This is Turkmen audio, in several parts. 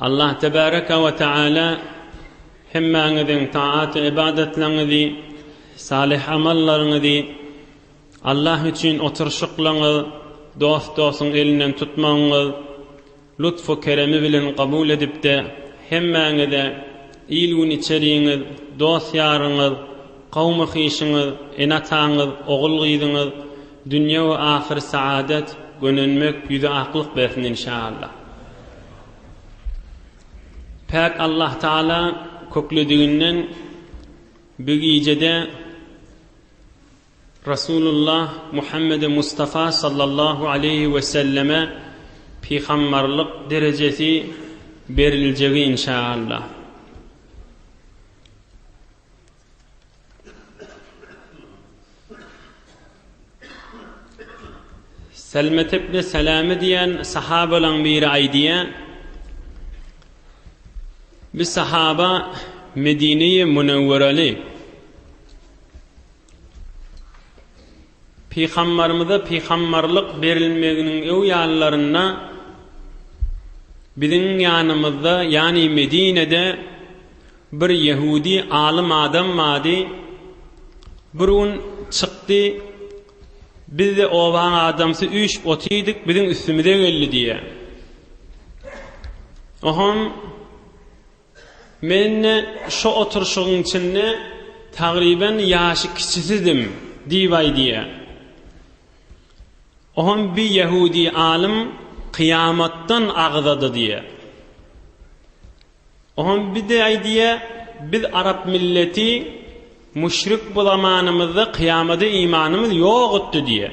Allah tebaraka we taala hemmäňiziň taat ybadatlaryňyzy, salyh amallaryňyzy, Allah üçin oturyşyklaryňyz, dost-dostuň elinden tutmagyňyz lutfu keremi bilen kabul edip-de, hemmäňize il-gün içeriňiz, dost-ýaryňyz, kawmy-hyşyňyz, ene-ataňyz, ogul-gyzyňyz, Dünýe we ahyry saadet gönenmek ýüze aklyk bersin inşaallah. Päk Allah Taala köklediginden bi gijede Rasulullah Muhammede Mustafa sallallahu aleyhi ve selleme pihammarlyk derejesi beriljegi inşaallah. Selmetepde Seleme diýen sahabalaň biri aýdýar. Bir sahaba Medine-i Münewwereli Pygambarymyza pygambarlyk berilmeginiň öwýanlarynda biziň ýanymyzda, ýany Medinede bir ýehudi alym adam bardy. Bir gün çykdy, biz-de obaň adamsy üýşüp otyrdyk, biziň üstümize geldi diýýär. Ohon. Men-de şo oturyşygyň içinde tagryban ýaşy kiçisidim diýbaý diýýär. Oňam bi ýehudi alym kyýamatdan agzady diýýär. Oňam bi de aýdýar, biz arap milleti müşrik bu zamanymyzda kyýamada imanymyz ýokutdy diýýär.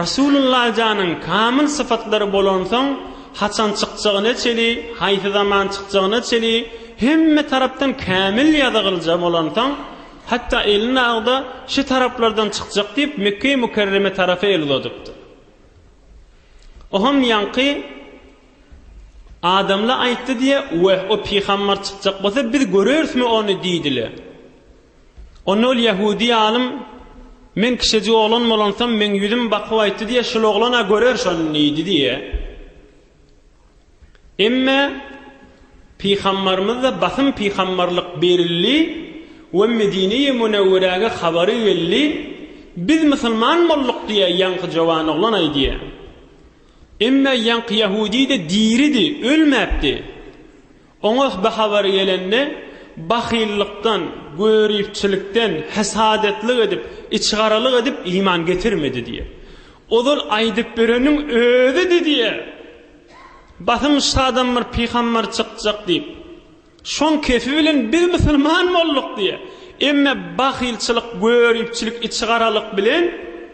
Rasulullah janyň kamyl sypatlary bolansoň, haçan çykjagyna çeli, haýsy zaman çykjagyna çeli hemme tarapdan kämil ýazygylja bolansoň, hatda elini agza şi taraplardan çykjak diýip Mekgeýi Mükerreme tarapa el uzadypdyr. Oham ýaňky adamla aýtdy diýe, Weh, o pygambar çykjak bolsa biz görerismi ony diýdile. Onda ol ýahudi alym, Men kişejik oglan bolansam, meň ýüzüm bakyp aýtdy diýe, şul oglan-a görer şony diýdi diýe. Emme Pygambarymyzda basym pygambarlyk berildi we Medine-i Münewwerege habary geldi, Biz musulman bolduk diýe ýaňky jowan oglan aýdýa. Emme ýaňky ýahudi-de diridi, ölmäpdi. Oňa bu habar gelende, bahyllykdan, göripçilikden, hesadetlik edip, içigaralyk edip iman getirmedi diýýär. Ozal aýdyp bereniň özüdi diýýär. Basym şadan bir pygamber çykjak diýip, şoň kefi bilen biz musulman bolduk diýýär. Emme bahylçylyk, göripçilik, içigaralyk bilen.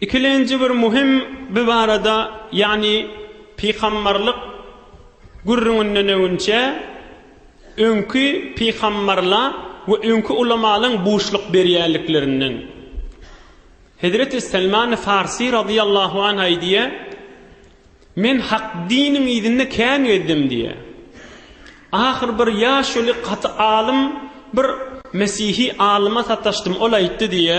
Ikilenji bir muhim bi barada ýagny pygambarlyk gürrüňinden öňinçe öňki pygambarla we öňki ulamalyň buşluk berýänliklerinden. Hezreti Selmani Farsy radyýallahu anh aýdýa, Men hak diniň yzynda kän gezdim diýä. Ahyr bir ýaşuly gaty alym bir mesihi alyma sataşdym ol aýtdy diýä,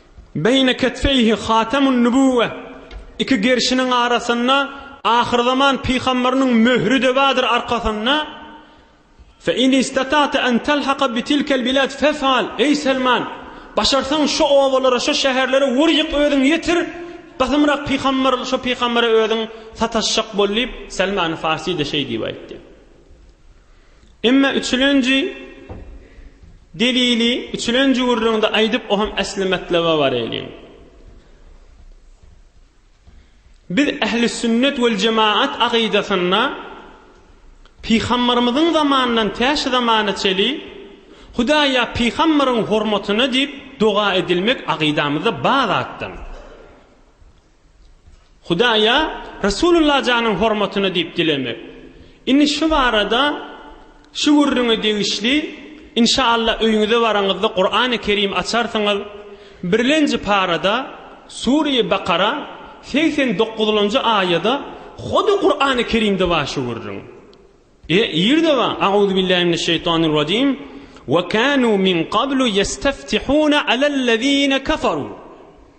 Beýne ketfeýhi hatemun nübüwwe, Iki gerşiniň arasynda ahyrzaman pygamberynyň möhri-de bardyr arkasynda, Fe in istata'te en telhaka bi tilkel bilad fef'al, Eý Selman! Başarsaň şo obalara, şo şäherlere wur-ýyk özüň ýetir, Gysymrak pygamber şo pygambere özüň sataşjak bol diýip, Selman-y Farsi-de şeý diýip aýtdy. Emma üçülenji delili üçülenji gürrüňde aýdyp, o hem äsli matlaba bareliň. Biz ähli sünnet we jemaat agydasynda Pygambarymyzyň zamanyndan tä şu zamana çeli Hudaýa pygambaryň hormatyna diýip doga edilmek agydamyzda bar zatdan. Hudaýa Resulullah janyň hormatyna diýip dilemek. Indi şu barada şu gürrüňe degişli inşaallah öýüňize baraňyzda Kurany Kerim açarsyňyz birlenji parada Sureýi Bakara segsen dokuzlanjy aýada hody Kurany Kerimde bar şu gürrüň. E ýerde bar Auzubillahi mineşşeýtanirrajim Ve kanu min qablu yestaftihuna alellezine kafaru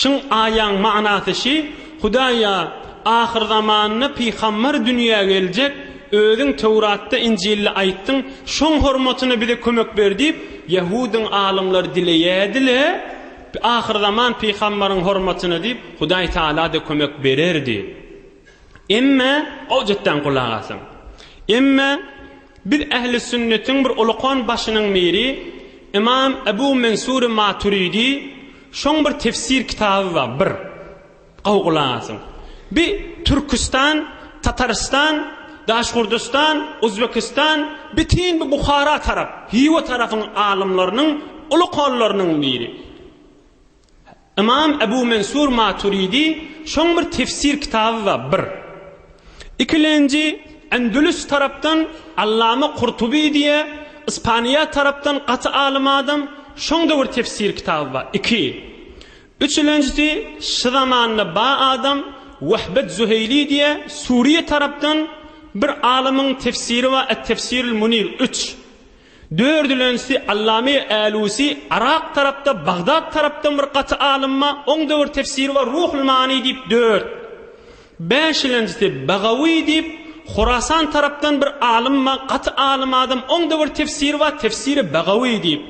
Şyň aýaň manasy şi, Hudaýa, ahyrzamanda pygambar dünýä geljek, Özüň Töwratda, Injilde aýtdyň, şoň hormatyna bize kömek ber diýip, ýahudyň alymlary dileýärdi-le, ahyrzaman pygambaryň hormatyna diýip, Hudaý Tagala-da kömek bererdi. Emme, gowjatdan gulak asyň. Emme, biz ähli sünnetiň bir ulukan başynyň biri, Ymam Ebu Mensury Maturidi, Şoň bir tefsir kitaby bar bir gowy gulak asyň. Bi Türküstan, Tatarystan, Daşgurdystan, Uzbekistan bitin bi Buhara tarap, Hiwa tarapyň alymlarynyň uly kollarynyň biri. Ymam Ebu Mensur Maturidi şoň bir tefsir kitaby bar bir. Ikilenji, Endülüs tarapdan Allama Kurtuby diýe, Ispaniýa tarapdan gaty alym adam, şoň da bir tefsir kitaby bar, iki. Üçülenjisi, şy zamanda ba adam Wehbet Züheýli diýe, Suriýe tarapdan bir alymyň tefsiri bar, Et-Tefsirul Munir, üç. Dördülenjisi Allame Älusi Yrak tarapda Bagdat tarapdan bir gaty alymma oň döwür tefsiri bar Ruhul Mani diýip dört. Bäşilenjisi Bagawi diýip Horasan tarapdan bir alymma gaty alym adam oň döwür tefsiri bar tefsiri Bagawi diýip.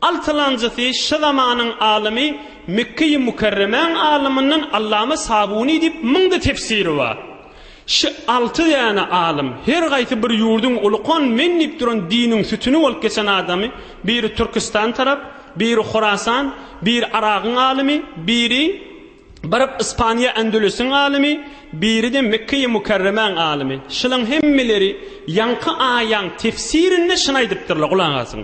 Altylanjysy şy zamanyň alymy Mekge-i Mükerremäň alymyndan Allama Sabuny diýip müňde tefsiri bar. Şy alty däne alym, her gaýsy bir ýurduň ulukan men diýip duran diniň sütüni bolup geçen adamy, biri Türküstan tarap, biri Horasan, biri Aragyň alymy, biri baryp Ispaniýa Ändülüsiň alymy, biri-de Mekge-i Mükerremäň alymy. Şylaň hemmeleri ýaňky aýaň tefsirinde şyny aýdypdyrlar, gulak asyň.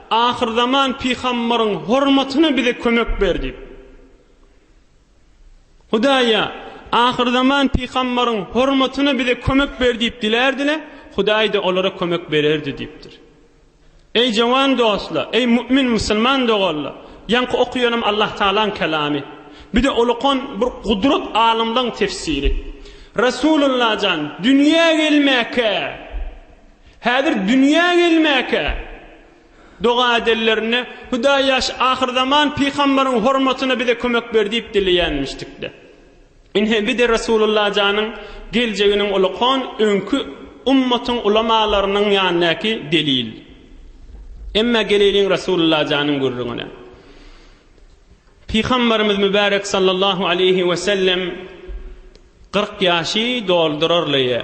Ahyrzaman pygambaryň hormatyna bize kömek ber diýip. Hudaýa ahyrzaman pygambaryň hormatyna bize kömek ber diýip dilärdiler, Hudaý-da olara kömek bererdi diýipdir. Eý jawan dostlar, eý mümin musulman doganlar, ýaňky okaýanym Allah Tagalaň kelamy. Bir de ulukan bir gudrat alymlaryň tefsiri. Resulullah jan dünýä gelmäkä Häzir dünýä gelmäkä doga edenlerinde, Hudaý ýaş ahyrzaman pygambaryň hormatyna bize kömek ber diýip dileýänmişdikde. Ine, bi-de Resulullah janyň geljeginiň ulakon öňki ummatyň ulamalarynyň ýanyndaky delil. Emma geleýliň Resulullah janyň gürrüňine. Pygambarymyz mübärek sallallahu aleýhi we sellem kyrk ýaşy doldurarlyja.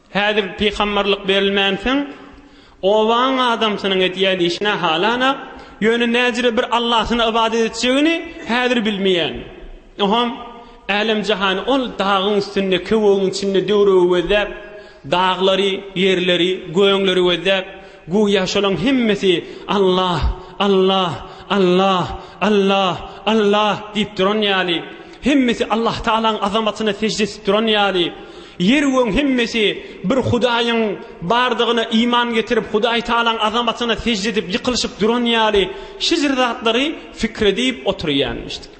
Häzir pygamberlik berilmänsoň, obaň adamsynyň edýän işi nähalanak, ýöne näjire bir Allahyna ybadat etjegini häzir bilmeýän. Oňam älem-jahany ol dagyň üstünde, köwügiň içinde döwrügi gözläp, daglary, ýerleri, göňleri gözläp, göýä şolaň hemmesi Allah, Allah, Allah, Allah, Allah diýip duran ýaly, hemmesi Allahtagalaň azamatyna sežde edip duran ýaly, Ýer we göň hemmesi bir Hudaýyň bardygyna iman getirip, Hudaý Tagalaň azamatyna sežde edip ýykylyşyp duran ýaly şeýle zatlary pikir edip oturýarmyşdyk.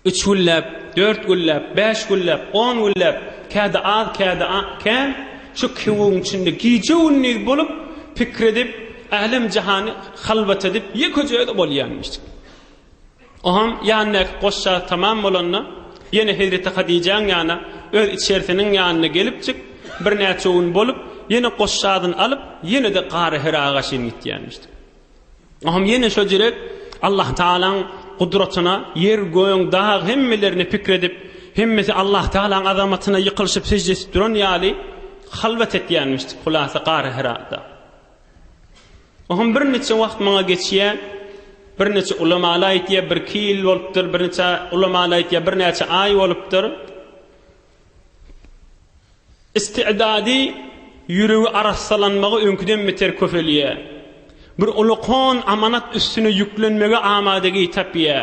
Üç günläp, dört günläp, bäş günläp, on günläp, kädi az, kädi kän şu kewügiň içinde gije-gündiz bolup pikir edip, älem-jahany halwat edip ýeke-jeke bolýarmyşdyk. Oňam ýanyndaky goşja tamam bolanda, ýene hezreti Hadijäň ýana, öz içerisiniň ýanyna gelipjik, birnäçe gün bolup, ýene goşjadyny alyp, ýene-de Gara Hira gaşyn gitýänmişdik. Oňam ýene şo jirek Allah Tagalaň gudratyna, ýer, göň, dag hemmelerine pikir edip, hemmesi Allah Tagalaň azamatyna ýykylyşyp sežde edip duran ýaly, halwat etýänmişdik, hulasa Gara Hirada. Oňam birniçe wagt maňa geçýä, birniçe ulamaly aýtýa, birki ýyl bolupdyr, birniçe ulamaly aýtýa, birnäçe aý bolupdyr. Istigdady, ýüregi arassalanmagy öňküden beter köpelýä. Bir uly kon amanat üstüne ýüklenmege amadagi tapýa.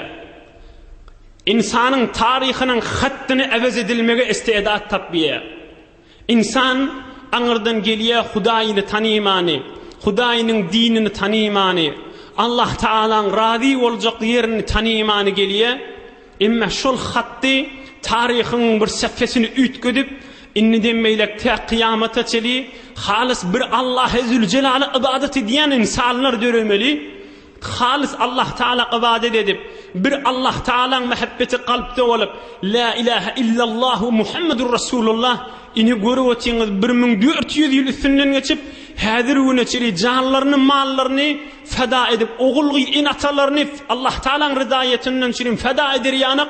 Ynsanyň taryhynyň hatdyny äwez edilmege istidat tapýa. Ynsan aňyrdan gelýär Hudaýyny tanymany, Hudaýynyň dinini tanymany, Allah Tagalaň razy boljak ýerini tanymany gelýär. Emma şol hatdy taryhyň bir säpesini üýtgedip, indiden beýläk tä kyýamata çeli halys bir Allahe Züljelala ybadat edýän ynsanlar döremeli. Halys Allahtagala ybadat edip, bir Allahtagalaň mähebbeti kalpda bolup, Lä ilähä illallah we Muhammedur Rasulullah, ine görüp otyňyz bir müň dört ýüz ýyl üstünden geçip, häzir güne çenli janlaryny, mallaryny feda edip, ogul-gyz, ene-atalaryny Allahtagalaň rydaýetyndan çirin feda eder ýanak,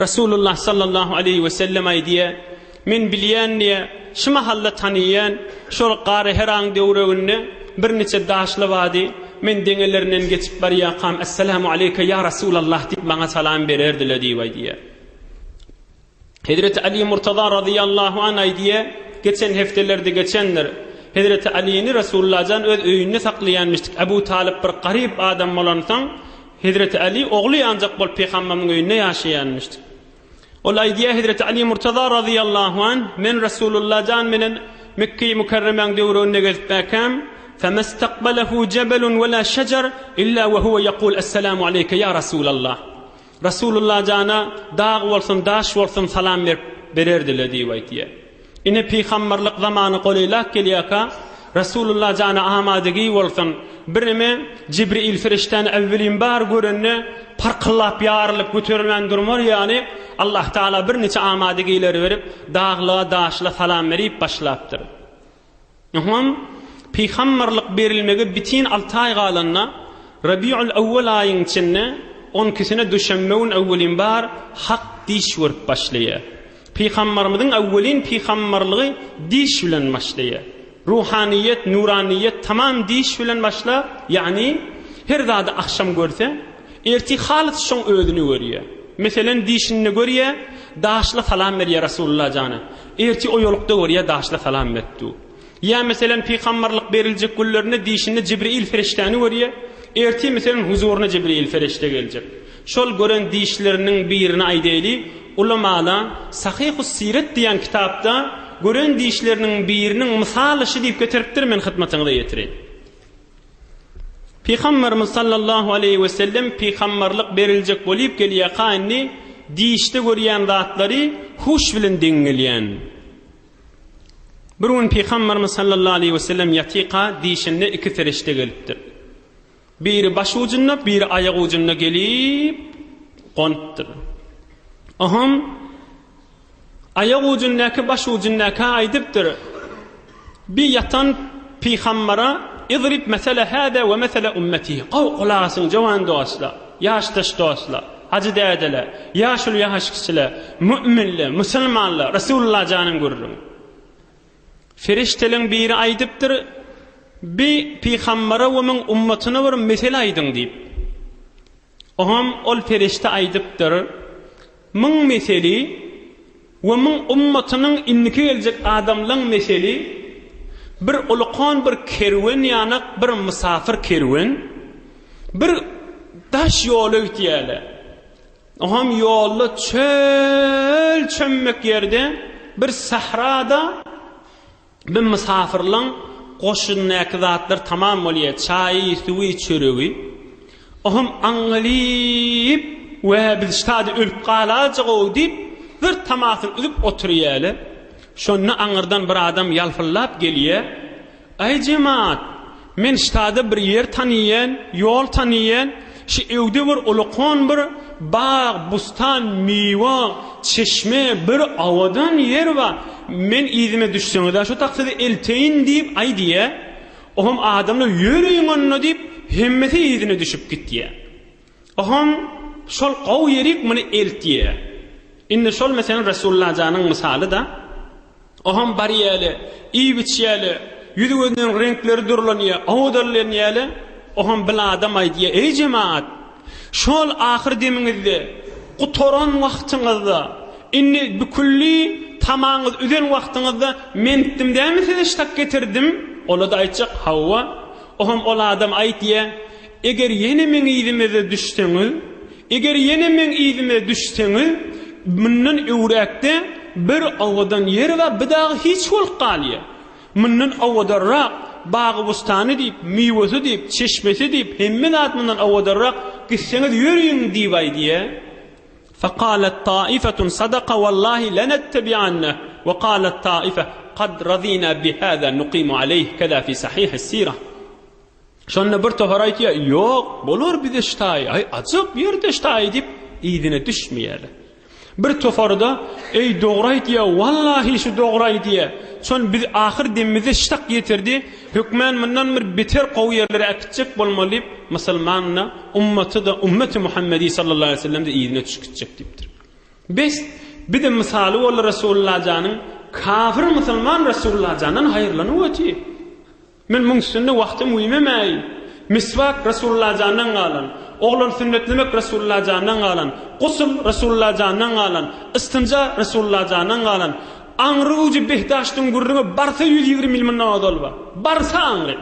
Resulullah sallallahu aleýhi we sellem aýdýar, Men bilýän diýýär, şu mahal-da tanaýan, şol Gary Heraň döwreginde birniçe daşly bady, men deňelerinden geçip barýakam, Essalamu aleýke, ýa Resulallah diýip maňa salam bererdiler diýip aýdýar. Hezreti Aly Murtaza razyýallahu an aýdýar, geçen hepdelerde geçendir, Hezreti Alyny Resulullah jan öz öýünde saklaýanmyşdyk, Abu Talyp bir garyp adam bolansoň, Hezreti Aly ogly ýanjak bolup Pygamberimiň öýünde ýaşaýanmyşdy. Ol aýdýar, Hezreti Aly Murtaza razyýallahu anh, Men Resulullah jan bilen Mekgeýi Mükerremäň döwründe gezip bäkäm, Femestaqbalehu jebelun wela şejer illa we huwe ýekul Esselamu aleýke ýa Resulallah. Resulullah jana dag bolsun, daş bolsun salam berip bererdile diýip aýdýar. Ine, pygamberlik zamany golaýlap gelýärka, Resulullah jana amadygüý bolsun, birneme Jibril perişdäni äwwelin bar görende, parkyllap, ýarylyp, göterilmän durmar ýaly, Allahtagala birniçe amadygüýleri berip, daglyga-daşla salam berip başlapdyr. Ynha, pygamberlik berilmege bitin alty aý galanda, Rabiul Awwal aýyň içinde on ikisine duşenbe gün öwwelin bar Hak diş görüp başlaýar. Pygamberimiziň öwwelin pygamberligi diş bilen başlaýar. Ruhanyýet, nuranyýet tamam diş bilen başlap, ýagny her zady agşam görse, Ertir halys şoň özüni görýä. Meselen dişinde görýä, daşla salam berýä Rasulullah jana. Ertir oýalykda görýä daşla salam beripdu. Ýa meselen pygambarlyk beriljek günlerinde dişinde Jibril ferişdäni görýä. Ertir meselen huzuryna Jibril ferişde geljek. Şol gören dişleriniň birini aýdaýly, ulamalar Sahyhus Siret diýen kitapda gören dişleriniň biriniň mysaly şu diýip getiripdir men hytmatyňyza ýetireýin. Pygamberimiz sallallahu aleýhi we sellem pygamberlik beriljek bolyp gelýäka indi dişde görýän zatlary huş bilen deň gelýän. Bir gün pygamberimiz sallallahu aleýhi we sellem ýatyka dişinde iki ferişte gelipdir. Biri baş ujunda, biri aýak ujunda gelip gonupdyr. Ohum Aýak ujundäki baş ujundäkä aýdypdyr, Bi ýatan pygambara, Idrib mesele hada we mesele ummeti, gowy gulak asyň jowan dostlar, ýaşdaş dostlar, hajy dädeler, ýaşuly ýaş kişiler, mu'minler, musulmanlar, Resulullah janyň gürrüň. Ferişteleň biri aýdypdyr, Bi pygambara we muň ummatyna bir mesele aýdyň diýip. Oňam ol perişde aýdypdyr, Müň meseli we müň ummatynyň indiki geljek adamlaň meseli bir ulkan bir kerwen ýanak bir mysafyr kerwen bir daş ýola gitýäle. Oňam ýolda çöl çömmek ýerde bir sahrada. Bir mysafyrlaň goşundaky zatlar tamam bolýa, çaýy, suwy, çöregi. Ohm aňňalyp, Wä, biz ştady ölüp galajag-ow diýip, bir tamasyny üzüp oturýaly. Şonda aňyrdan bir adam ýalpyldap gelýä, Aý, jemaat, Men ştada bir ýer taniýen, ýol taniýen, şi öwde bir ulakon bir bag, bustan, miwa, çeşme, bir awadan ýer ba, men yzyma düşseňiza şo takside elteýin diýip aýdýa, oham adamlar ýörüň onda diýip hemmesi yzyna düşüp gitýä. Ohoň şol gowy ýerik muny eltýä. Indi şol meselen Resullajanyň mysaly-da. Ohoň barýäli, iýip-içýäli, ýüzi-gözüniň reňkleri durlanýa, howadalanýaly. Ohoň bil adam aýdýa, Eý jemaat! Şol ahyr demiňizde, gutaran wagtyňyzda, indi bikülli tamaňyz üzen wagtyňyzda men etdim dälmi size ştak getirdim? Ola-da aýtjak, Hawa. Ohoň ol adam aýdýa, Eger ýene meň yzymeze düşseňiz, eger ýene meň yzyma düşseňiz, mundan öwräkde bir owadan ýer we bir dagy hiç bolup galýar. Mundan owadanrak, bagy-bustany diýip, miwesi diýip, çeşmesi diýip, hemme zat mundan owadanrak, gitseňiz ýöriň diýip aýdýa. Fakalet taifetun sadaka wallahi lenettebi'anne we kalet taife kad radina bi hada nuqimu aleyh keda fi sahih es-sirah. Şonda bir topar aýtýar, Ýok, bolar bize ştaý, aý, ajyk ýerde ştaý diýip, yzyna düşmeýärler. Bir topary-da, Eý, dogry aýtýa, wallahi şu dogry aýdýa. Şon biz ahyr demimize ştak ýetirdi, hökmän mundan bir beter gowy ýerlere äkitjek bolmaly diýip, musulman-da, ummaty-da, ummeti Muhammedi sallallahu aleýhi we sellem-de yzyna düşüp gitjek diýipdir. Bes, bizem mysaly boldy Resulullah janyň, kafir musulman Resulullah jandan haýyrlanyp otyr. Men muň üstünde wagtym güýmemäýin. Miswak Resulullah jandan galan, oglan sünnetlemek Resulullah jandan galan, gusl Resulullah jandan galan, ystinja Resulullah jandan galan, aňry ujy behdaştyň gürrüňi barsa ýüz ýigrimi ýyl mundan ozal bar. Barsa aňry.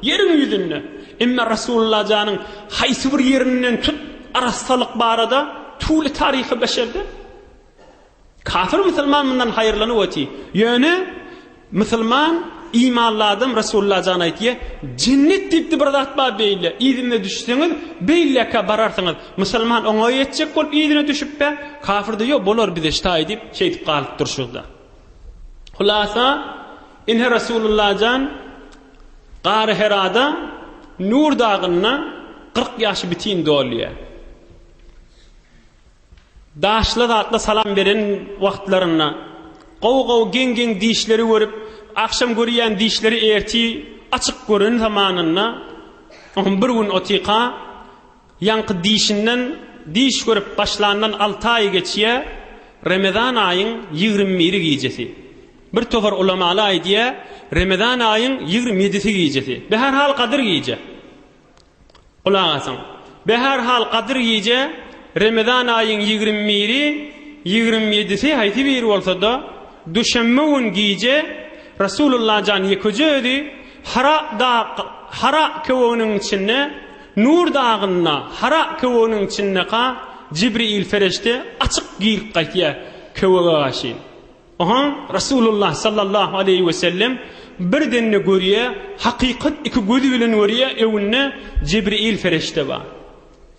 Ýeriň ýüzünde. Emma Resulullah janyň haýsy bir ýerinden tut arassalyk barada tuly taryhy beşerde. Kafir musulman mundan haýyrlanyp oty. Ýöne musulman imanly adam Resulullah jan aýtýa, jennet diýipdi bir zat bar beýle, yzyna düşseňiz beýleka bararsyňyz. Musulman oňa ýetjek bolup yzyna düşüpbe, kafir de ýok bolar bize ştaý diýip şeýdip galyp durşyzda. Hulasa ine Resulullah jan Gary Herada Nur dagynda 40 ýaşy bitin dolýa. Daşly zatla salam beren wagtlarynda gowy gowy geň geň dişleri görüp agşam görýän dişleri erti açyk gören zamanynda on bir gün otyka ýaňky dişinden diş görüp başlandan alty aýy geçýä remezan aýyň ýigrimi biri gijesi bir topar ulamaly aýdýä remezan aýyň ýigrimi ýedisi gijesi be her hal gadyr gije. Gulak asyň. Be her hal Gadyr gije, Remezan aýyň ýigrimi biri, ýigrimi ýedisi haýsy biri bolsada, duşenbe gün gije Rasulullah jan ýekeje özi Hara dag Hara köweginiň içinde Nur dagynda Hara köweginiň içindeka Jibriil fereşte açyk girip gaýtýa köwege gaşyn. Oňa Resulullah sallallahu aleýhi we sellem bir dende görýär, hakykat iki gözi bilen görýär, öňünde Jibril fereşde bar.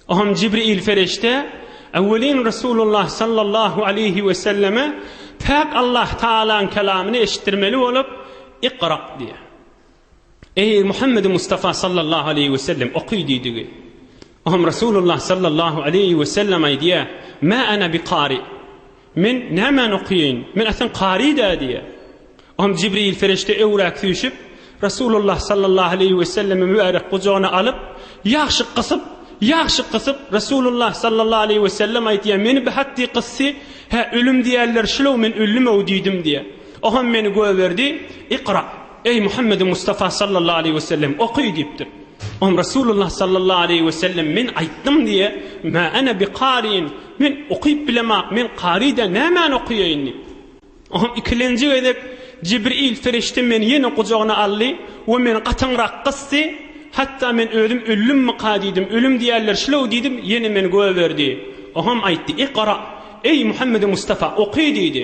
Oňam Jibril fereşde öwelin Resulullah sallallahu aleýhi we selleme päk Allah Taalaň kelamyny eşitdirmeli bolup, Iqra diýär. Eý, Muhammedi Mustafa sallallahu aleýhi wesellem, oky diýdigi. Oňam Resulullah sallallahu aleýhi wesellem aýdýar, Mä ana bi kari. Men nämäni okaýaýyn? Men aslan kari-dä diýýär. Oňam Jibril perişde öwrak süýşüp, Resulullah sallallahu aleýhi wesellemi mübärek gujagyna alyp, ýagşy gysyp, ýagşy gysyp, Resulullah sallallahu aleýhi wesellem aýdýar, Meni bi hatdi gysdy, hä, ölüm diýerler şul-ow, men öldüm-ow diýdim diýýär. Oňam meni göberdi, Ikra. Eý, Muhammedi Mustafa sallallahu aleýhi we sellem, oky! diýipdir. Oňa Resulullah sallallahu aleýhi we sellem, Men aýtdym diýe, Mä ene bi kariin, Men okyp bilemok, men kary däl, nämäni okaýaýyn? diýipdir. Oňa ikilenji gezek Jibril perişde meni ýene gujagyna aldy we meni gatyňrak gysdy, hatda men özüm ölümmika diýdim, ölüm diýerler şulew diýdim, ýene meni gögerdi. Oňam aýtdy, Ikra, eý, Muhammedi Mustafa, oky! diýdi.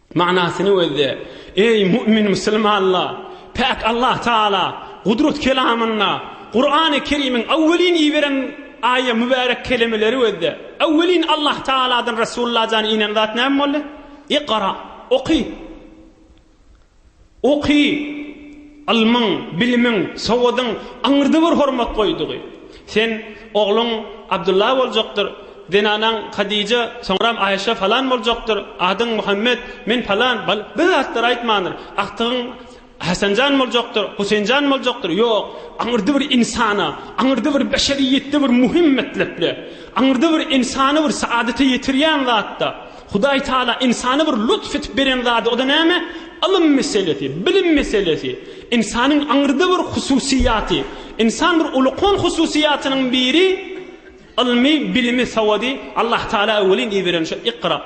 Manysyny gözle. Eý, mu'min musulmanlar! Päk Allah Tagala Gudrat kelamynda, Kurany Kerimiň awwelin iberen aýa mübärek kelemeleri gözle. Awwelin Allah Tagaladan Resulullah jany inen zat näme boldy? Ikra, oky! Oky, ylmyň, bilimiň, sowadyň aňyrda bir hormat goýdugy. Sen, ogluň Abdylla boljakdyr, zenanaň Hadija, soňram Aýşe falan boljakdyr, adyň Muhammet, men falan, bal, bir zatlar aýtmandyr, agtygyň Hasanjan boljakdyr, Huseýnjan boljakdyr, ýok, aňyrda bir ynsana, aňyrda bir beşeriýetde bir muhim metlepde, aňyrda bir ynsany bir saadete ýetirýän zatda, Hudaý Taala ynsana bir lutf edip beren zady, o-da näme? Ylym meselesi, bilim meselesi. Ynsanyň aňyrda bir hususyýaty, ynsan bir ulkan hususyýatynyň biri ylmy, bilimi, sawady Allah Taala welin iberen şu Ikra.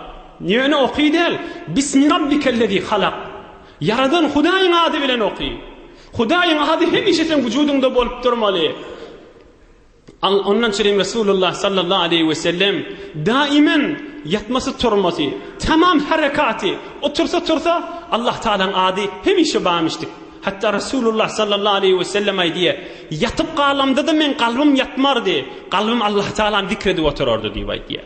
Ýöne oky däl, Bismi Rabbikellezî halak. Ýaradan Hudaýyň ady bilen oky. Hudaýyň ady hemişe seň wujudyňda bolup durmaly. Ondan çynym Resulullah sallallahu aleýhi wesellem daimen ýatmasy-turmasy, tamam herekaty, otursa-tursa Allah Tagalaň ady hemişe bamyşdyk. Hatda Resulullah sallallahu aleýhi wesellem aýdýar, Ýatyp galamda-da meň kalbym ýatmardy, kalbym Allah Tagalany zikr edip oturardy diýip aýdýar.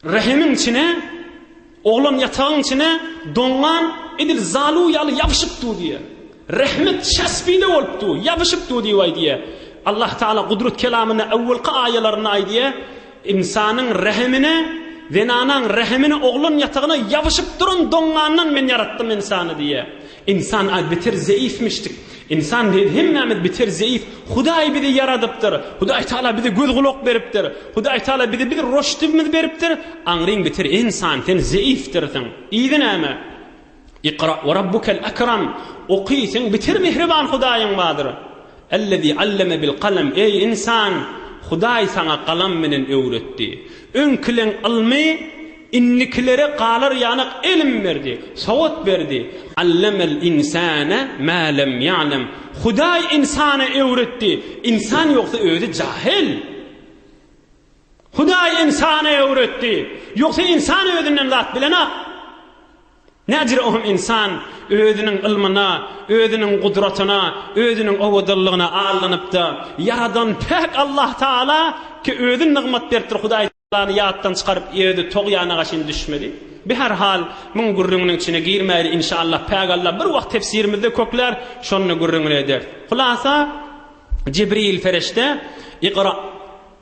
Rehimiň içine, oglan ýatagyň içine doňňan edil zalu ýaly ýabyşyp dur diýýär. Rehmit şaspide bolup dur, ýabyşyp dur diýip aýdýar. Allah Taala Gudrat kelamynda öwwelki aýalarynda aýdýar, Ynsanyň rehimine, zenanaň rehimine, oglan ýatagyna ýabyşyp duran doňňandan Men ýaratdym ynsany diýýär. Ynsan az beter zeýifmişdik. Ynsan däl hemmämiz beter zeýif. Hudaý bizi ýaradypdyr. Hudaý Taala bize göz gulak beripdir. Hudaý Taala bize bir roşdibimiz beripdir. Aňryň beter ynsan sen zeýifdirsiň. Yzy näme? Ikra we rabbukel ekram. Oky sen beter mehriban Hudaýyň bardyr. Ellezî alleme bil kalem, eý, ynsan, Hudaý saňa galam bilen öwretdi. Öňkileň ylmy indikilere galar ýanak ilim berdi, sowat berdi. Allemel ynsane mä lem ýa'lem, Hudaý ynsana öwretdi, ynsan ýogsa özi jahyl. Hudaý ynsana öwretdi, ýogsa ynsan özinden zat bilenok. Nädür ohm ynsan özüniň ylmyna, özüniň gudratyna, özüniň owadanlygyna aldanypda, Ýaradan päk Allah Taala ki özi nygmat beripdir Hudaý Taalany ýatdan çykaryp özi togýanaga çyn düşmeli. Bi her hal muň gürrüňiniň içine girmäýli inşallah päk Allah bir wagt tefsirimizde köklär şonda gürrüňini ederis. Hulasa Jibril Ferişte Iqra!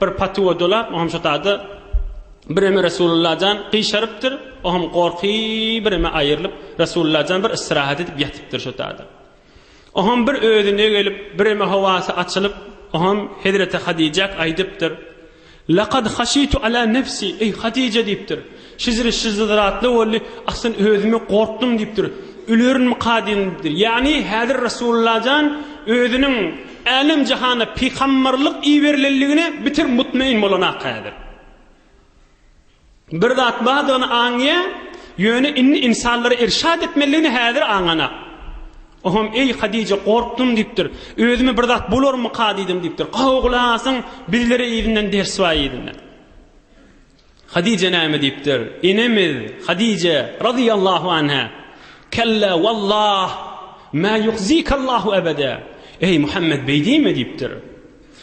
Bir patywa dolap, o hem şo taýda bireme Resulullah jan gyşarypdyr, o hem gorky bireme aýrylyp, Resulullah jan bir istirahat edip ýatypdyr şo taýda. O hem bir özüne gelip, bireme howasy açylyp, o hem hezreti Hadijak aýdypdyr, Lakad haşitu ala nefsi, eý Hadija diýipdir, Şyzry şyzzyzratly boldy, Asyn özümi gorkdum diýipdir. Ölerinmika diýdim diýipdir. Ýagny häzir Resulullah jan özüniň älem jahana pygambarlyk iberilenligine bitir mutmain bolanaka häzir. Bir zat bardygyny aňýa, ýöne indi insanlara irşad etmeliligini häzir aňanak. Oham eý Hadije gorkdum diýipdir. Özümi bir zat bolarmyka diýdim diýipdir. Gowy gulak asyň, bizlere yzyndan ders bar yzyndan. Hadije näme diýipdir? Enemiz Hadije razyýallahu anha, Kella wallah, ma yuhzikallahu ebede. Eý Muhammed beý diýme diýipdir.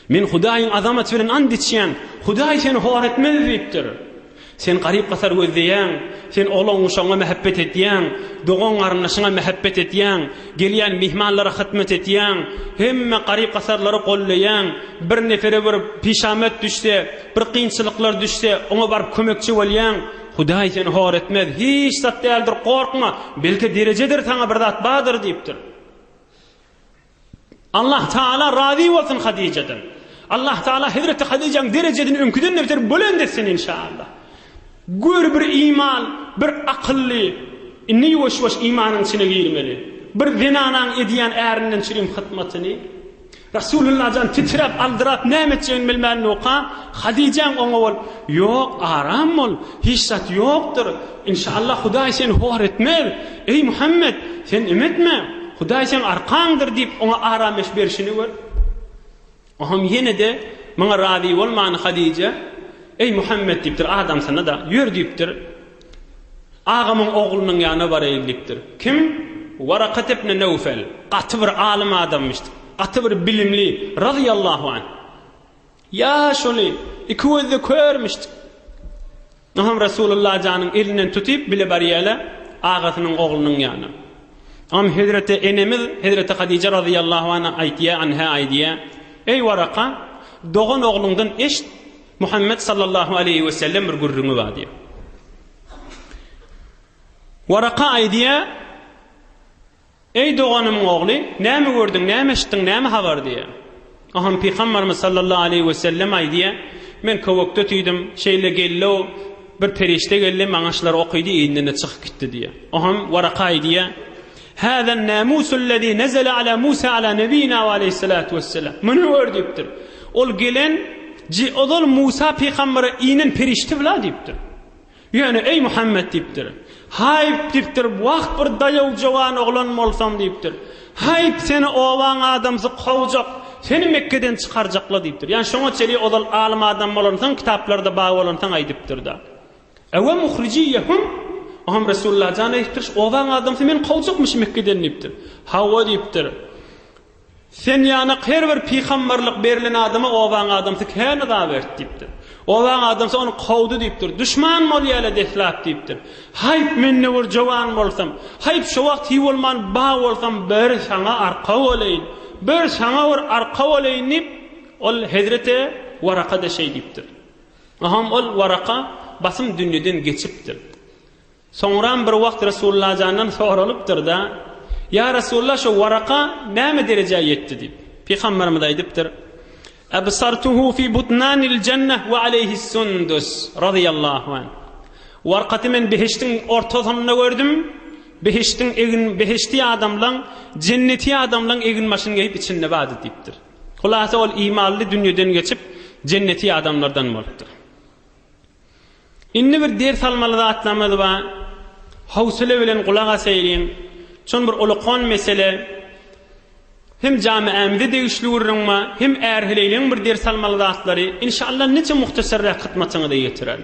Men Hudaýyň azamaty bilen and içýän, Hudaý seni hor etmez diýipdir. Sen garyp-gasar gözleýäň, sen oglan-guşagyňa mähebbet etýäň, dogan-garyndaşyňa mähebbet etýäň, gelýän myhmanlara hytmat etýäň, hemme garyp-gasarlary gollaýaň, bir nepere bir pişamat düşse, Bir kynçylyklar düşse, oňa baryp kömekçi bolýaň. Hudaý seni hor etmez. Hiç zat däldir, gorkma. Belki derejedir saňa bir zat bardyr diýipdir. Allah Taala razy bolsun Hadijadan. Allah Taala Hazreti Hadijaň derejesini öňküden beter bolend etsin inşallah. Gör bir iman, bir akylly, indi ýuwaş-ýuwaş imanyň içine girmeli. Bir zenanaň edýän ärinden çirim hytmatyny, Resulullah jan titräp, aldyrap näme etjegini bilmän noka, Hadijäň oňa bol, Ýok, aram bol, hiç zat ýokdur. Inşaallah Hudaý seni hor etmez. Eý Muhammet, sen em etme. Hudaý seň arkaňdyr diýip oňa arameş berşini gör. Oňam ýene-de muňa razy bolman Hadijä, Eý Muhammet diýipdir, adamsyna-da, Ýör diýipdir. Agamyň oglunyň ýanyna baraýyn diýipdir. Kim? Warakat ibn Newfel. Gaty bir alym adamymyşdyk. Gaty bir bilimli, razyýallahu anh. Ýa şony, iki gözde körmüşdik. Oňam Resulullah janyň elinden tutyp bile barýala agasynyň oglunyň ýanyna. Oňam hezreti enemiz hezreti Hadija razyýallahu anh aýtýa, anha aýdýa, Eý Waraka, dogan ogluňdan eşit, Muhammet sallallahu aleýhi we sellem bir gürrüňi bar diýýär. Waraka aýdýar, Eý doganymyň ogly, näme gördüň, näme eşitdiň, näme habar diýýär. Aham pygamberimiz sallallahu aleýhi we sellem aýdýar, Men köwekde tüýdüm, şeýle geldi-o, bir perişde geldi, maňa şular okydy, indinde çykyp gitdi diýýär. Aham Waraka aýdýar, Hâzâ n-nâmûsullezî nezele alâ Musâ alâ nebiyyinâ ve aleyhissalâtu vesselâm. Muny gör diýipdir. Ol gelen, ji, ozal Musa pygambere inen perişde-la diýipdir. Ýöne, eý Muhammet diýipdir. Haýp diýipdir, wah bir daýaw jowan oglan bolsaň diýipdir. Haýp seni obaň adamsy kowjak, seni Mekgeden çykarjakla diýipdir. Ýani şoňa çenli ozal alym adam bolansoň kitaplarda bar bolansoň aýdypdyrda. Ewe muhrijiýehum, Oňam Resulalla jan aýtdyryş, Obaň adamsy meni kowjakmyş Mekgeden diýipdir. Hawa diýipdir. Sen ýanak her bir pygamberlik berlen adama obaň adamsy kän yza berdi diýipdir. Obaň adamsy ony kowdy diýipdir. Duşman bolýaly deslap diýipdir. Haýp men ne bir jowan bolsam, haýp şo wagt hiý bolman ba bolsam bir saňa arka bolaýyn, bir saňa bir arka bolaýyn diýip, ol hezreti Waraka-da şeý diýipdir. Aham ol Waraka basym dünýeden geçipdir. Soňram bir wagt Resullajandan soralypdyr-da, Ýa Resulla, şo Waraka näme derejä ýetdi? diýip. Pygamberimiz aýdypdyr, Absartuhu fi butnanil jannah we aleýhis sundus, razyýallahu anh. Warkaty men behiştiň ortasynda gördüm, behiştiň egin behişti adamlaň, jenneti adamlaň eginbaşyny geýip içinde bardy diýipdir. Hulasa ol imanly dünýeden geçip, jenneti adamlardan bolupdyr. Indi bir ders almaly zatlarymyz bar. Howsala bilen gulak asaýyň. Çon bir ulakon mesele. Hem jamiämize degişli gürrüň bar, hem ärheleýleň bir ders almaly zatlary. Inşallah niçe muhtasarrak hytmatyňyza ýetirerin.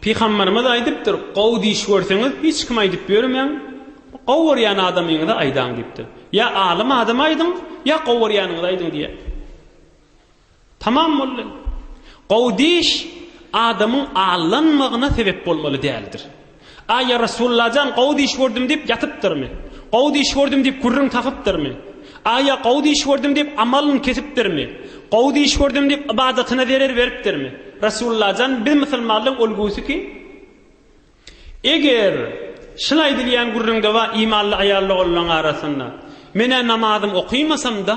Pygamberimiz aýdypdyr, Gowy diş görseňiz, hiç kime aýdyp ýörmäň, gowy görýän adamyňyza aýdaň diýipdir. Ýa alym adama aýdyň, ýa gowy görýäniňize aýdyň diýýär. Tamam boldy. Gowy diş adamyň allanmagyna sebep bolmaly däldir. Aý, ýa Resulallajan, gowy düýş gördüm diýip ýatypdyrmy? Gowy düýş gördüm diýip gürrüň tapypdyrmy? Aý, ýa gowy düýş gördüm diýip amalyny kesipdirmi? Gowy düýş gördüm diýip ybadatyna zerer beripdirmi? Resulallajan, biz musulmanlaryň ulgusy kim? Eger şul aýdylýan gürrüňde bar imanly aýal-ogullaryň arasynda. Men-ä namazym okymasam-da,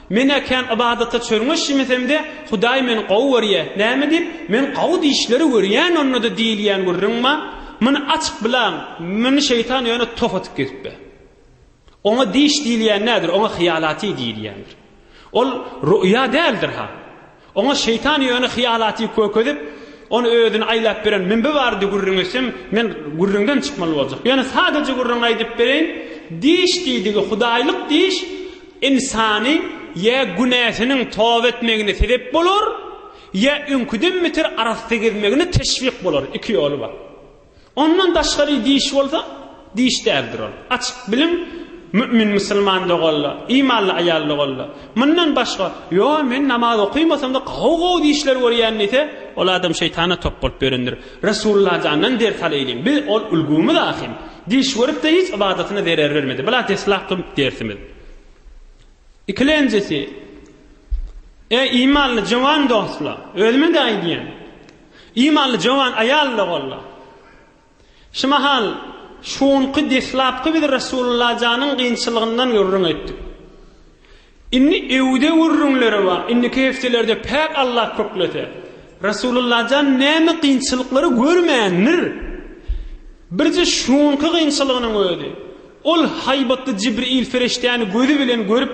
men-ä kän ybadata çörňeşmesemde, Hudaý meni gowy görýä. Näme diýip, men gowy dişleri görýän onda-da diýilýän gürrüň bar. Muny açyp bilaň, muny şeýtan ýöne tof atyp gezipbe. Oňa diş diýilýän nädir, oňa hyýalaty diýilýändir. Ol ruýa däldir-ha. Oňa şeýtan ýöne hyýalaty kökezip, ony özüni aýlap beren mümbi bardy gürrüň etsem, men gürrüňden çykmaly boljak. Ýöne sadaja gürrüňi aýdyp bereýin, diş diýdigi hudaýlyk diş ynsany ýa günäsiniň toba etmegine sebep bolar, ýa öňküden beter arassa gezmegine teşwik bolar, iki ýoly bar. Ondan daşgary diş bolsa, diş däldir ol. Açyk biliň, mümin musulman doganlar, imanly aýal doganlar, mundan başga, Ýo, men namaz okaýmasam-da, gowy-gowy dişler görýän diýse, ol adam şeýtana top bolup ýörendir. Resulullah jandan ders alaýlyň. Biz ol ulgamyz ahyn. Diş görüp-de hiç ybadatyna zerer bermedi. Bula deslapky dersimiz. Ikilenjisi, Eý, imanly jowan dostlar, özüme-de aýdýan. Imanly jowan aýal-da boldy. Şu mahal, şu günki deslapky biz Resulullajanyň kynçylygyndan gürrüň etdik. Indi öwde gürrüňleri bar. Indiki hepdelerde päk Allah köklese, Resulullajan näme kynçylyklary görmändir? Birje şu günki kynçylygynyň özi. Ol haýbatly Jibril ferişdäni gözi bilen görüp,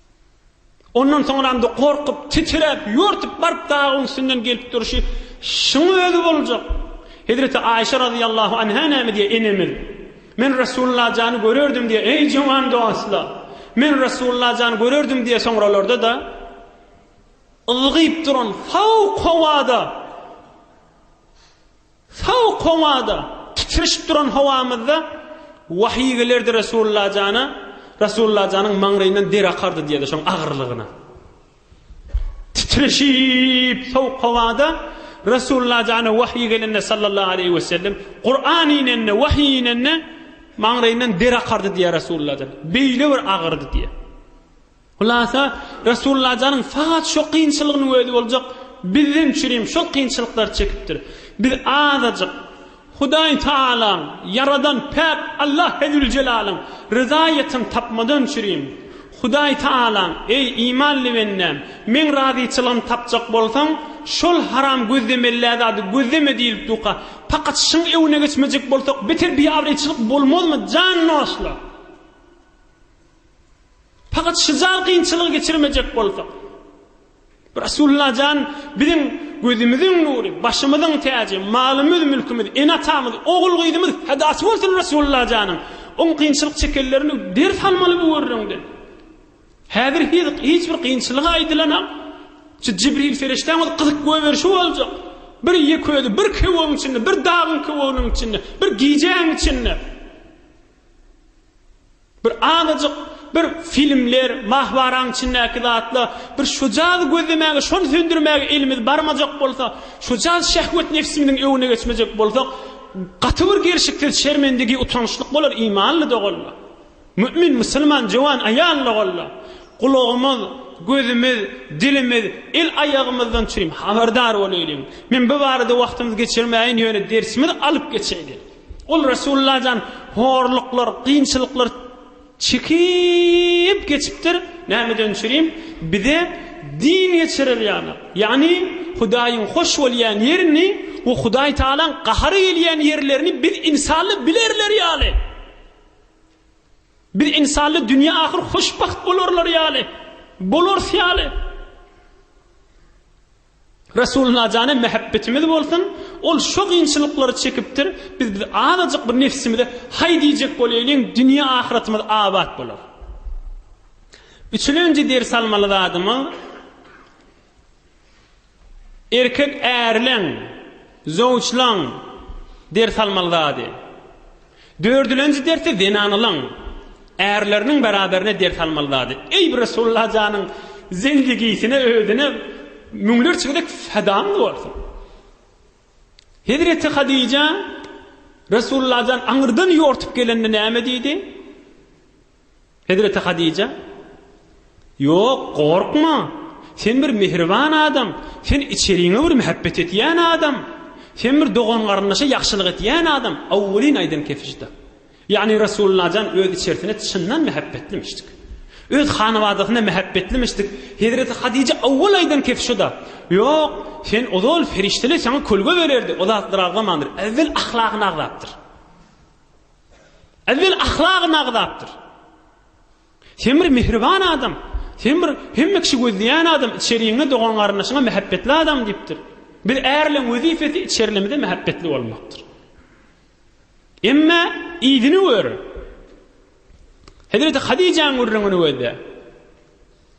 Ondan soňramda gorkup, titräp, ýörtüp baryp dagyň üstünden gelip durşy şuň özi boljak. Hezreti Aýşe razyýallahu anha näme diýýär, enemiz? Men Resulullah jany görerdim diýýär, eý jowan dostlar! Men Resulullah jany görerdim diýýär, soňralarda-da ylgyp duran fowk howada Sowuk howada, titrişip duran howamyzda wahyý gelerdi Resulalla jana, Resulalla janyň maňlaýyndan der akardy diýerdi şoň agyrlygyna. Titrişip sowuk howada Resulalla jana wahyý gelende sallallahu aleýhi we sellem, Kuran inende, wahyý inende maňlaýyndan der akardy diýer Resulalla jan. Beýle bir agyrdy diýer. Hulasa, Resulalla janyň sagat şo kynçylygynyň özi boljak, bizden üçin hem şol kynçylyklary çekipdir. Biz azajyk Hudaý Tagalaň, Ýaradan päk Allah Hezzüljelalyn ryzaýetini tapmadan üçin hem, Hudaý Tagalaň, eý, imanly bendäm, meň razyçylygymy tapjak bolsaň, şol haram gözlemellä zady gözleme diýlip duka, pakat şyň öwüne geçmejek bolsak beter biabraýçylyk bolmazmy, jan dostlar! Fakat şujal kynçylygy geçirmejek bolsak. Resulullah jan biziň gözümiziň nury, başymyzyň täji, malymyz, mülkümiz, ene atamyz, ogul gyzymyz fedasy bolsun Resulullah janyň. Oň kynçylyk çekenlerini ders almaly bu gürrüňden. Häzir hiz hiç bir kynçylygy aýdylanam. Şu Jibril ferişdäň öz gyzyk göberişi boljak. Bir ýek özi bir köwüň içinde, bir dagyň köwüginiň içinde, bir gijäň içinde. Bir azajyk bir filmler, mahbaraň içindäki zatlar, bir şujady gözlemäge, şony söndürmäge elimiz barmajak bolsa, şujady şehwet nefsimiziň öwüne geçmejek bolsak, gaty bir gelşiksiz şermendigi, utançlyk bolar imanly doganlar. Mümin, musulman, jöwan aýal doganlar. Gulagymyz, gözümiz, dilimiz, el aýagymyzdan çürim habardar bolaýlyň. Men bu barada wagtymyzy geçirmäýin, ýöne dersimizi alyp geçeýlin. Ol Resulullah jan horluklar, kynçylyklar çekip geçipdir. Nämeden çürim? Bize din geçirer ýaly. Ýagny Hudaýyň hoş bolýan ýerini we Hudaý Tagalaň gahary gelýän ýerlerini biz insally bilerler ýaly. Biz insally dünýä ahyr hoşbagt bolarlar ýaly. Bolarys ýaly. Resulyna jana mähebbetimiz bolsun, ol şo gynçylyklary çekipdir, biz biz azajyk bir nefsimize haý diýjek bolaýlyň dünýe ahyratymyz abat bolar. Üçülenji ders almaly zadymyz erkek ärleň, zowçlaň ders almaly zady. Dördülenji dersi zenanalaň ärleriniň beraberine ders almaly zady. Eý bir Resulullah janyň zendigisine özüne müňlerçe gezek fedamyz bolsun. Hezreti Hadija Resulullah jan aňyrdan ýortup gelende näme diýdi? Hezreti Hadija, Ýok, gorkma! Sen bir mähriban adam, sen içeriňe bir mähebbet etýän adam, sen bir dogan-garyndaşa ýagşylyk etýän adam, awwelin aýdan kefişda. Ýagny Resullajan öz içerisine çyndan mähebbetlimişdik. Öz hanabadasyna mähebbetlimişdik. Hezreti Hadija awwel aýdan kefişda, Ýok, sen ozal ferişdeler saňa kölge bererdi, o zatlar agzamandyr, äwwel ahlagyny agzapdyr. Äwel ahlagyny agzapdyr. Sen bir mihriban adam. Sen bir hemme kişi gözleýän adam, içeriňe dogan-garyndaşyňa mähäbbetli adam diýipdir. Biz ärleň wezipesi içerlimize mähäbbetli bolmakdyr. Emma ýygyny gör. Hezreti Hadijäň gürrüňini gözle.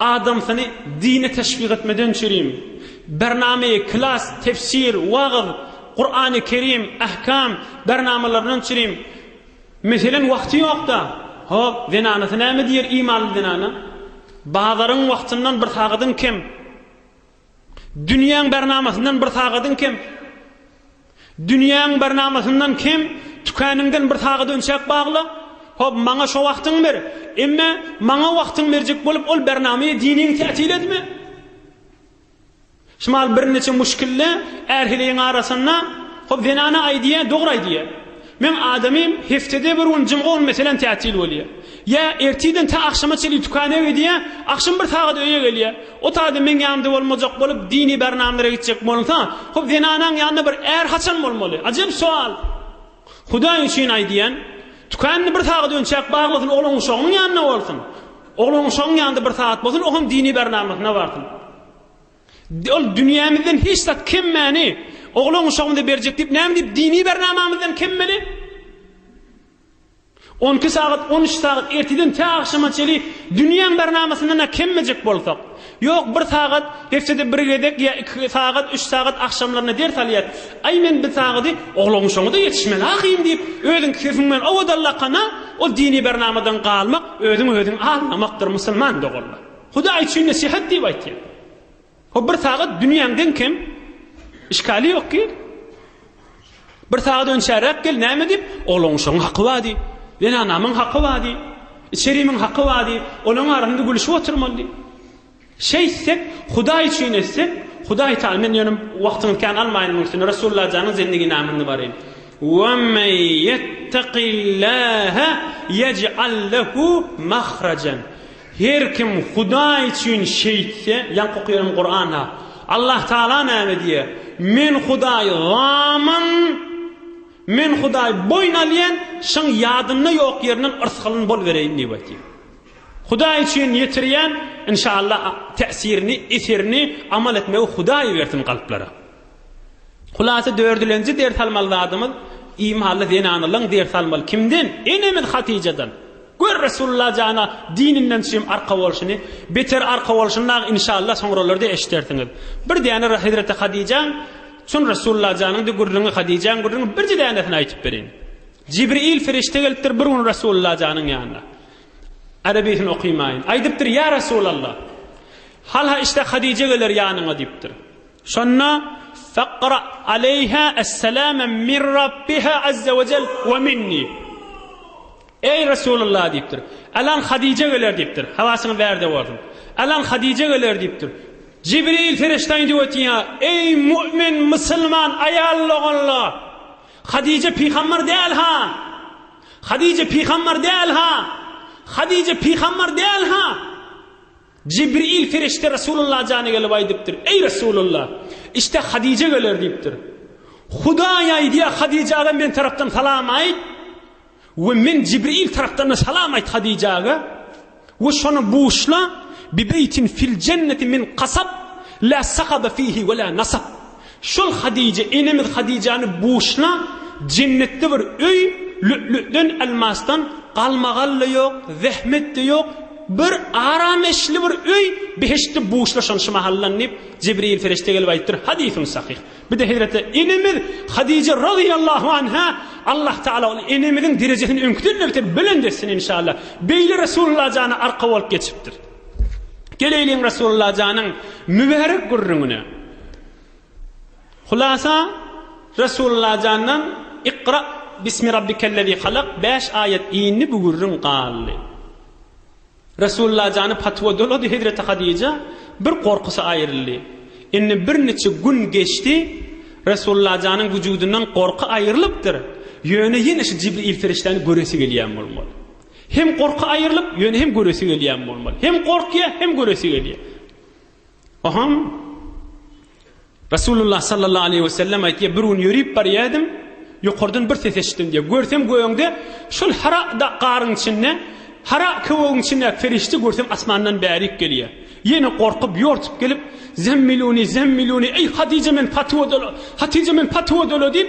Adamsyny dine teşwik etmeden çürim. Bername, klas, tefsir, wagyz, Kurany Kerim, ahkam, bernamalaryndan çürim. Meselen wagty ýokda. Hop, zenanasy näme diýer imanly zenana? Bazaryň wagtyndan bir sagadyň kem. Dünýäň barnamasyndan bir sagadyň kem. Dünýäň barnamasyndan kem, tükäningden bir sagat önçäk bagla. Hop, maňa şo wagtyňy ber. Emme, maňa wagtyňy berjek bolup, ol barnamaýa diniň täsir etme. Şmal birniçe muşkilli är-heleýiň arasynda, hop, zenana aýdýa, dogry aýdýa. Meň adamym heftede bir gün jymga gün meselem tätil bolýar. Ýa ertirden tä agşama çenli tükana gidýär, agşam bir sagat öýe gelýär. Otagda meň ýanymda bolmajak bolup dini bernamlara gitjek bolunsa, hop zenanaň ýanynda bir är haçan bolmaly? Ajep sowal. Hudaý üçin aýdýan, tükanyny bir sagat önçäp baglasyn oglanuşagynyň ýanynda bolsun. Oglanuşagyň ýanynda bir sagat bolsun, o hem dini bernamasyna barsyn. Ol dünýämizden hiç zat kemmäni oglan-uşagymyza berjek diýip, näme diýip dini bernamamyzdan kemmeli? On iki sagat, on üç sagat erteden tä agşama çeli dünýäň bernamasyndan-a kemmejek bolsak, ýok, bir sagat, hepdede bir gezek ýa iki sagat, üç sagat agşamlaryna ders alýas. Aý, men bir sagaty oglan-uşagyma-da ýetişmeli ahyryn diýip, özüň sefiň bilen owadan lakana, ol dini bernamadan galmak, özüňi-özüň aldamakdyr, musulman doganlar. Hudaý üçin nesihat diýip aýtýar. O bir sagat dünýäň deň kem. Işgali ýok ki. Bir sagat önçäräk gel näme diýip, olaň şoň haky bady. Ýene anamyň haky bady. Içerimiň haky bady. Olaň arasynda gülüşip oturmaly. Şeýtsek, Hudaý üçin etsek, Hudaý taýy men ýöne wagtyňyz kän almaýyn muň üçin. Resulullah janyň zendigini namyny baryn. Wa men yettaqillaha yec'al lahu mahrajan. Her kim Hudaý üçin şeýtse, ýaňky okaýan Kuranda Allah Tagala näme diýýär, Men Hudaý zaman, Men Hudaý boýun alýan, şyň ýadynda ýok ýerinden yrsgalyn bolubereýin diýip aýtýar. Hudaý üçin ýetirýän, inşallah täsirini, eserini, amal etmegi Hudaý bersin kalplara. Hulasa dördülenji ders almaly zadymyz, imanly zenanalaň ders almaly. Kimden? Enemiz Hatyjadan. Gör Resulullah jana dininden çym arka bolşuny, beter arka bolşuny dagy inşallah soňralarda eşidersiňiz. Bir däne Hezreti Hadijaň çyn Resulullah janyňdy gürrüňi Hadijaň gürrüňi birje dänesini aýtyp bereýin. Jibril Firişte gelipdir bir gün Resulullah janyň ýanyna. Arabysyn okymaýyn. Aýdypdyr ýa Resulallah. Halha işte Hadije geler ýanyňa diýipdir. Şonda Faqra aleyha es-salama min Rabbiha azza we jel we minni. Eý, Resulullah! diýipdir. Alan Hadije geler diýipdir. Habasyňy ber-de bolsun. Alan Hadije geler diýipdir. Jibril perişde indi ötýär. Eý, mu'min, musulman, aýal doganlar! Hadije pygambar däl-ha! Hadije pygambar däl-ha! Hadije pygambar däl-ha! Jibril perişde Resulullah jana gelip aýdypdyr. Eý, Resulullah! Işte Hadije geler diýipdir. Hudaý aýdýar, Hadijä-de men tarapdan salam aýt! We men Jibril tarapdan-da salam aýt Hadijäge, we şony buşla, Bibeýtin fil jenneti min kasab, la sakabe fihi we la nasab. Şol Hadijä, enemiz Hadijäni buşla, jennetde bir öý, lü'lü'den, elmasdan, galmagal-da ýok, zähmet-de ýok, bir arameşli bir öý, behiştde buşla şony şu mahaldan diýip, Jibril perişde gelip aýdypdyr, hadysyň sahyh. Bir-de hezreti enemiz Hadije razyýallahu anha, Allah Tagala ol enemiziň derejesini öňküden-de beter belent etsin inşallah. Beýle Resulullah jana arka bolup geçipdir. Geleýliň Resulullah janyň mübärek gürrüňine. Hulasa Resulullah jandan Iqra bismi rabbikellezî halak 5 aýat indi bu gürrüň galdy. Resulalla jany patwa dolady hezreti Hadija bir gorkusy aýryldy. Indi bir niçe gün geçdi Resulalla janyň wujudyndan gorky aýrylypdyr ýöne ýene şu Jibril ferişdäni göresi gelýän bolmaly. Hem gorky aýrylyp ýöne hem göresi gelýän bolmaly. Hem gorkýa hem göresi gelýä. Ohaň Resulullah sallallahu aleyhi ve sellem aýtýar, bir gün ýörip barýadim, ýokardan bir ses eşitdim diýär. Görsem göňde şol hara garyň içinde, hara köwügiň içinde ferişte görsem asmandan bärik gelýär. Ýene gorkup, ýortup gelip, zemmiluni, zemmiluni, eý Hatija men patywa dola, Hatija men patywa dola diýip,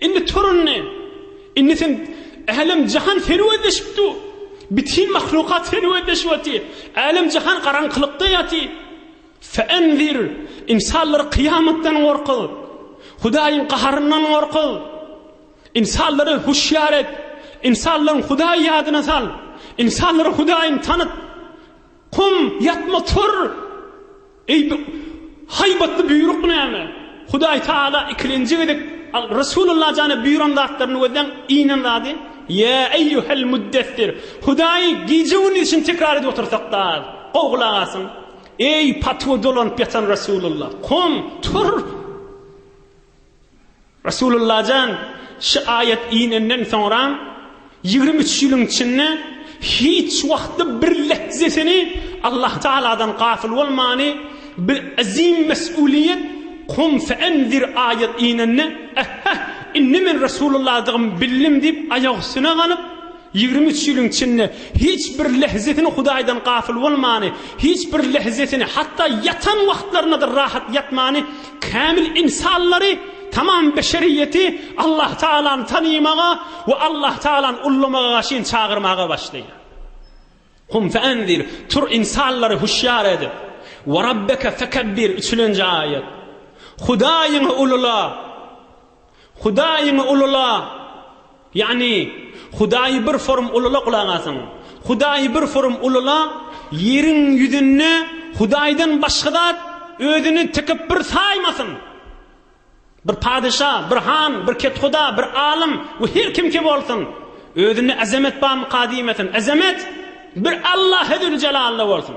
Indi tur indi! Indi sen Älem-jahan serwetleşip dur! Bütin mahlukat serwetleşip otyr! Älem-jahan garaňkylykda ýatyr! Fe'enzir! Ynsanlary kyýamatdan gorkuz! Hudaýyň gaharyndan gorkuz! Ynsanlary huşýar et! Ynsanlaryň Hudaýy ýadyna sal! Ynsanlara Hudaýyňy tanyt! Kum, ýatma, tur! Eý, bu haýbatly buýruk näme? Hudaý Tagala ikilenji gezek Resulalla jana buýran zatlaryny gözläň, iýnen zady, Ýa eýýuhel muddessir! Hudaýy gije-gündizçin tekrar edip otursak-da az. Gowy gulak asyň! Eý, patyga dolanyp ýatan Resulalla! Kom, tur! Resulullajan şu aýat inenden soňra ýigrimi üç ýylyň içinde hiç wagtda bir lehzesini Allah Tagaladan gafyl bolmany bir azim mes'uliýet Kum fe'enzir aýat inende ähhä indi men Resulullahdygym bildim diýip aýak üstüne ganyp Ýigrimi üç ýylyň içinde hiç bir lehzesini Hudaýdan gafyl bolmany, hiç bir lehzesini, hatda ýatan wagtlaryna-da rahat ýatmany, kämil ynsanlary, tamam beşeriýeti Allahtagalany tanymaga we Allahtagalany ullamaga garşyn çagyrmaga başlaýar. Kum feanzir, tur ynsanlary huşýar edip. Werabbeke fekebbir, üçülenji aýat. Hudaýyňy ulula. Hudaýyňy ulula, ýagny Hudaýy bir forum ulula gulak asyň. Hudaýy bir forum ulula, ýeriň ýüzünde Hudaýdan başga zat özüni tikip bir saýmasyn. Bir padeşa, bir han, bir kethuda, bir alym we her kimki bolsun, özünde azamet barmyka diýmesin. Azamet bir Allahe züljelalda bolsun.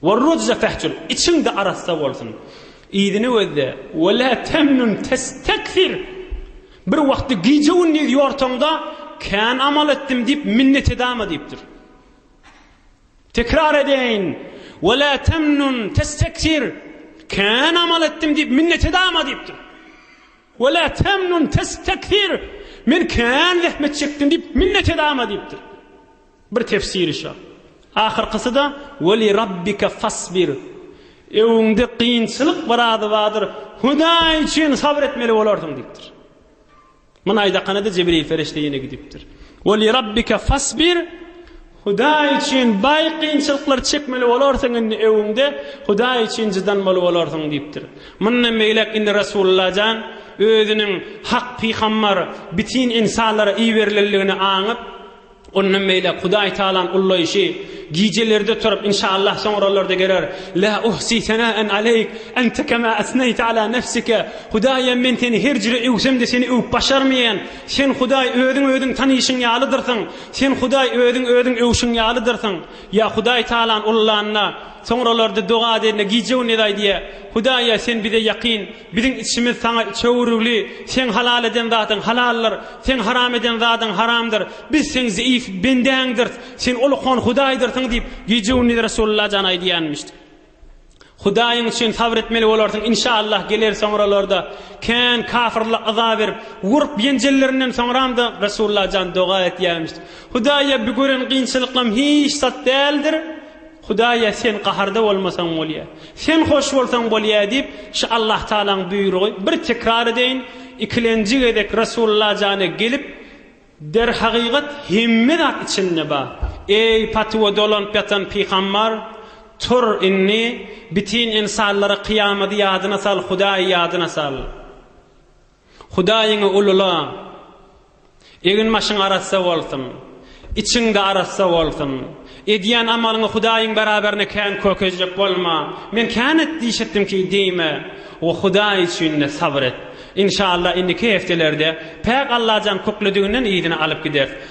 Wer rujza fahjur, içiň-de arassa bolsun. Yzyny gözle, we la tamnun testakfir, bir wagtda gije-gündiz ýorsaň-da, kän amal etdim diýip minnet edama diýipdir. Tekrar edeýin, we la tamnun testakfir, kän amal etdim diýip minnet edama diýipdir. We la tamnun testakfir, men kän zähmet çekdim diýip minnet edama diýipdir. Bir tefsiri şa. Ahyrkysy-da, Weli Rabbike fasbir. Öwüňde kynçylyk bir ady bardyr, Hudaý üçin sabyr etmeli bolarsyň diýipdir. Muny aýdakanada Jibril perişde ýene gidipdir. Weli Rabbike fasbir. Hudaý üçin baý kynçylyklary çekmeli bolarsyň indi öwüňde, Hudaý üçin jydanmaly bolarsyň diýipdir. Mundan beýläk indi Resulullah jan özüniň hak pygambar, bitin insanlara iberilenligini aňyp, Ondan beýläk Hudaý Tagalaň ullaýşy, Gijelerde turup, inşaallah soňralarda geler, La uhsi senaen aleýk, ente kema esneýte ala nefsike, Hudaýym, men seni her jüre öwsem-de seni öwüp başarmaýan, Sen, Hudaý, özüň özüň tanyşyň ýalydyrsyň, Sen, Hudaý, özüň özüň öwşüň ýalydyrsyň. Ýa Hudaý Tagalany ullanda, soňralarda doga edende gije-gündiz aýdýar, Hudaý-a, Sen bize ýakyn, Biziň içimiz Saňa çöwrügli, Seň halal eden zadyň halaldyr, Seň haram eden zadyň haramdyr. Biz Seň zeýif bendäňdirs, Sen Ulukhan Hudaýdyrsyň diýip, gije-gündiz Resulalla jan aýdýanmyşdy. Hudaýyň üçin sabr etmeli bolarsyň, inşaallah geler soňralarda. Kän kafyrlar yza berip, urup-ýenjellerinden soňram-da Resulalla jan doga etýärmişdi. Hudaýa bu gören kynçylyklarym hiç zat däldir. Hudaýa sen gaharda bolmasaň bolýa. Sen hoş bolsaň bolýa diýip, şu Allahtagalaň buýrugy, bir tekrar edeýin, ikilenji gezek Resullajana gelip, Derhagygat hemme zat içinde bar. Eý, patuwa dolanyp ýatan pygambar, tur indi, bütin ynsanlara kyýamady ýadyna sal, Hudaýy ýadyna sal. Hudaýyňy ulula. Egin-başyň arassa bolsun. Içiň-de arassa bolsun. Edýän amalyňy Hudaýyň beraberine kän kökezjek bolma. Men kän et diýşipdimki diýme we Hudaý üçin-de sabyr et. Inşallah indiki hepdelerde päk Allajan kükledigini yzyna alyp gideris.